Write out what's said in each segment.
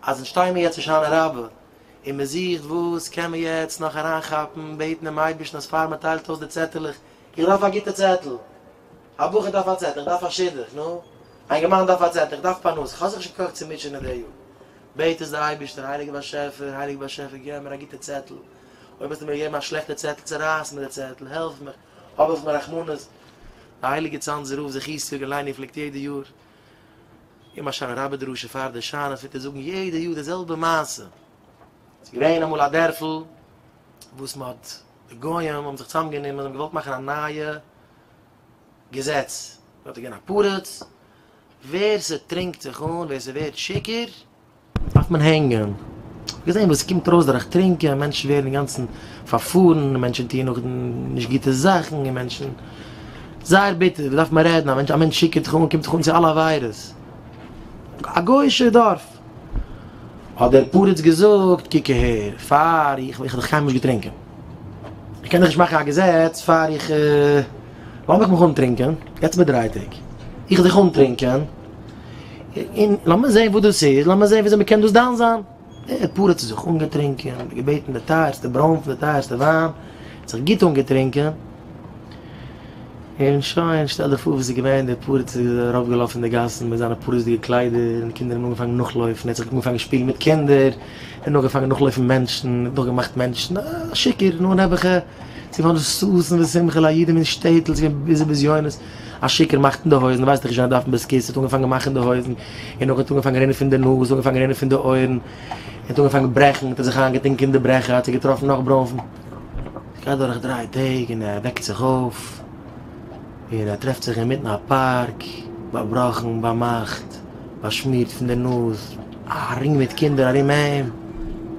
אז אונז שטייען מיר יעצט אין שנה רבה, און מען זוכט וואס קען מען יעצט נאך אריינכאפן, בעטן דעם אייבערשטן אז פאר מען טיילט אויס די צעטעלעך, איך דארף א גוטע צעטל, א בחור דארף א צעטל, איך דארף א שידוך, נו, א אינגערמאן דארף א צעטל, איך דארף פרנסה, איך האב זיך נישט געקאכט צו מוטשענען די יאר, בעט עס די אייבערשטער, הייליגער באשעפער, הייליגער באשעפער געב מיר א גוטע צעטל, אויב האסטו מיר געגעבן א שלעכטע צעטל, צערייס מיר די צעטל, העלף מיך, האב אויף מיר רחמנות. די הייליגע צאנזער רב זיך איסור און ליין איר פלעגט יעדע יאר. געבן א שיינע רבי דרשה פאר די שיינע פוטער זאגן יעדע יאר די זעלבע מעשה ס'איז געווען אמאל א דערפל וואס מ'האט די גוים האבן זיך צוזאם גענומען און געוואלט מאכן א נייע געזעץ דארט איז געווען א פרץ ווער ס'טרינקט זיך אן ווער ס'ווערט שיכור דארף מען הענגען. געזען וואס ס'קומט ארויס דורך טרינקען, מענטשן ווערן אינגאנצן פארפארן, מענטשן טוען נאך נישט גוטע זאכן, און מענטשן, זייער ביטער, וואס דארף מען רעדן, א מענטש, א מענטש שיקערט זיך אן, קומט זיך אן צו אלע עבירות. א גוי'אישער דארף. האט דער פרץ געזאגט, קוק אהער, פאר איך, איך האב דאך קיינמאל נישט געטרינקען, איך קען דאך נישט מאכן א געזעץ פאר איך. לאמיך מיך אנטרינקען, יעצט מיט דרייטעג, איך זיך אנטרינקען, און לאמיר זעהן וואס דאס איז, לאמיר זעהן וויאזוי מען קען דאס דן זיין. ער האט פארט האט ער זיך אנגעטרינקען, געבעטן די טייערסטע ברוינפן, די טייערסטע וויין, האט זיך גוט אנגעטרינקען, און שוין, שטעל דיר פאר וואס איז געווען, דער פארט איז ארויף געלאפן אין די גאסן מיט זיינע פאריזדיגע קליידער, און די קינדער האבן אנגעפאנגען נאכלויפן, ער האט זיך אנגעפאנגען שפילן מיט קינדער, און נאכגעפאנגען נאכלויפן מענטשן, נאכגעמאכט מענטשן, א שיכור, נאר נעבעכע. צו פארן ששון ושמחה לידים אין שטעטל, צו געבן ביזי בזיונות, א שיכור מאכט אין די הויזן, ווייסט נישט ווי אזוי ער דארף אין בית כסא, האט אנגעפאנגען מאכן די הויזן, און אויך האט אנגעפאנגען רינען פון די נאז, האט אנגעפאנגען רינען פון די אויערן, און האט אנגעפאנגען ברעכן, האט ער זיך איינגעטונקען אין די ברעכער, האט זיך געטראפן נאך ברוינפן, ס'גייט דורך דריי טעג און ער וועקט זיך אויף. און ער טרעפט זיך אינמיטן א פארק, באבראכן, באמאכט, באשמירט פון דער נאז, א רינג מיט קינדער ארום אים,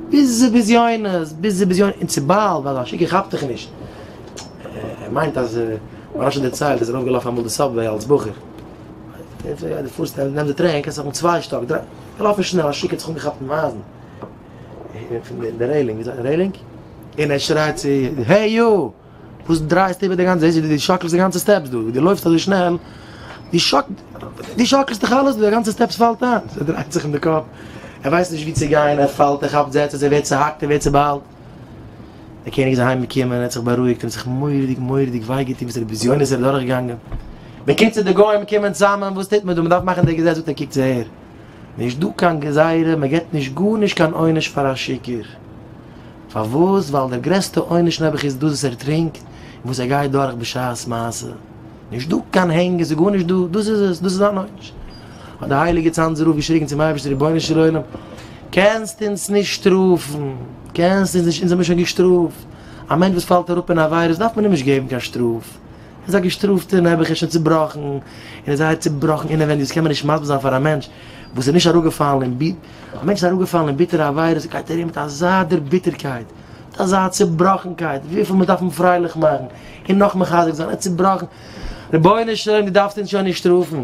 ביזי בזיונות, ביזי בזיונות, און צו באלד, ווייל א משוגע כאפט דיך נישט, ער מיינט אז, ווי רשי דערציילט, איז ער אויפגעלאפן אמאל די סאבוועי אלס בחור, דו פארסט און נעמסט די טרעין, קענסט אויפן צוויי שטאק, דריי, געלאפן שנעל, א שיק האט זיך אנגעכאפט אין אייזן, פון די רעלינג, ווי זאגט מען רעלינג? און ער שרייט צו, העי יו! וואס דרייסטו איבער די גאנצע זעהסט ווי די שאקלסט די גאנצע סטעפס דא ווי די לויפסט אזוי שנעל די שאק די שאקלסט דיך אלעס די גאנצע סטעפס פאלט איין ער דרייט זיך אין די קאפ ער ווייסט נישט ווי צו גיין ער פאלט ער כאפט זעצעס ער ווערט צוהאקט ער ווערט צובאלט דער קעניג איז אהיים געקומען ער האט זיך בארואיגט ער האט זיך מורא'דיג מורא'דיג וויי געטון וואס די בזיונות ער איז דורך געגאנגען בקיצור די גוים קומען צוזאמען וואס טוט מען דא מען דארף מאכן די געזעץ זאגט ער קוקטס אהער נישט דא קיין גזירה מען געבט נישט גארנישט קיין עונש פאר א שיכור. פארוואס? ווייל דער גרעסטע עונש נעבעך איז דאס וואס ער טרינקט און וואס ער גייט דורך בשעת מעשה. נישט דא קיין הענגען, ס'איז גארנישט דא, דאס איז עס, דאס איז זיין עונש. האט דער הייליגער צאנזער רב געשריגן צום אייבערשטער, רבונו של עולם, קענסט אונז נישט שטראפן, קענסט אונז נישט, אונז האמיר שוין געשטראפט, א מענטש וואס פאלט אראפ אין עבירות דארף מען אים נישט געבן קיין שטראף, ער איז א געשטראפטער, נעבעך איז שוין צובראכן, און איז זייער צובראכן אינעווייניג, דאס קען מען נישט מסביר זיין פאר א מענטש וואס איז נישט אראפגעפאלן אין ווען א מענטש איז אראפגעפאלן אין ביטערע עבירות גייט ארום מיט אזא דערביטערקייט, מיט אזא צעבראכנקייט, וויפיל מען דארף אים פרייליך מאכן און נאך מחזק זיין, ער איז צעבראכן, רבונו של עולם דו דארפסט אונז שוין נישט שטראפן.